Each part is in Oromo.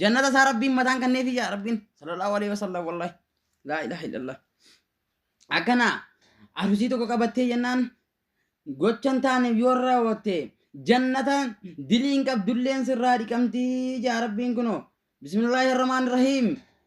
jannata isaa rabbiin mataan kanneefi yaa rabbiin sallallahu alaihi wasallam wallahi laa ilaha illallah akkana arusii tokko qabattee jennaan gochan taane yoo raawwatte jannata diliin qabdulleen sirraa dhiqamtii yaa rabbiin kunoo bismillaahi rahmaan rahiim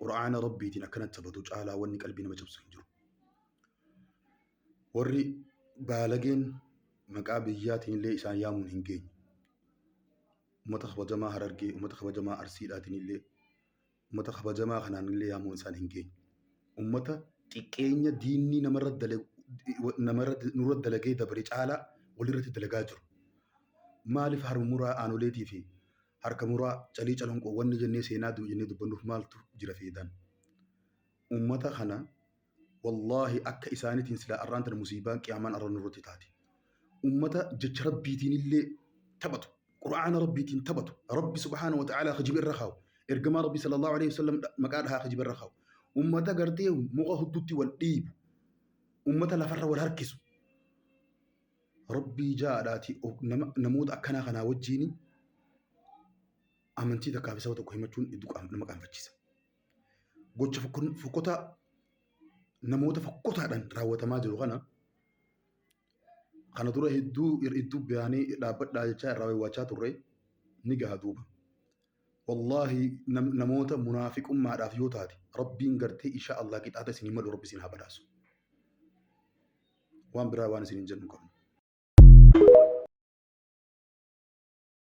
Qur'aana Rabbiitiin akkanatti sabatu caalaa wanni qalbii nama cabsu hin jiru. Warri baalageen maqaa biyyaatiin illee isaan yaamuun hin geenye. Uummata kabajamaa Harargee, uummata kabajamaa Arsiidhaatiin illee, uummata kabajamaa kanaan illee yaamuun isaan hin geenye. Uummata xiqqeenya diinni namarra dalagu namarra nurra dalagee dabre caalaa walirratti dalagaa jiru. Maaliif harmuraa aanoleetii fi Harka muraa, calii calanqoo wanni jennee seenaa du'e jennee dubbannuuf maaltu jira feedan. Ummata kana wallaahi akka isaanitiin silaa arraan tana musiibaan qiyaamaan arra nurratti taati. Ummata jecha rabbiitiin illee taphatu. Qur'aana rabbiitiin taphatu. Rabbi subhaana wa ta'aalaa kijiba irra kaawu. Ergamaa rabbi sallallahu alaihi wasallam maqaa dhahaa kijiba irra kaawu. Ummata gartee muka huddutti wal dhiibu. Ummata lafarra wal harkisu. Rabbii ja'aadhaati of- nama- namoota akkanaa kanaa wajjiin amantii takkaa fi saba tokko himachuun hedduu qaam- nama qaanfachiisa. Gocha fokkon- fokkotaa namoota fokkotaadhaan raawwatamaa jiru kana kana dura hedduu ir- hedduu baanee dhaabbadhaa jechaa irraa waywaachaa turre ni gaha duuba. Wallaahi nam- namoota munaafiqummaadhaaf yoo taate rabbiin gartee inshaa Allah qixaata isin hin malu rabbi isin haa badhaasu. waan biraa waan isiniin jennu hin qabnu.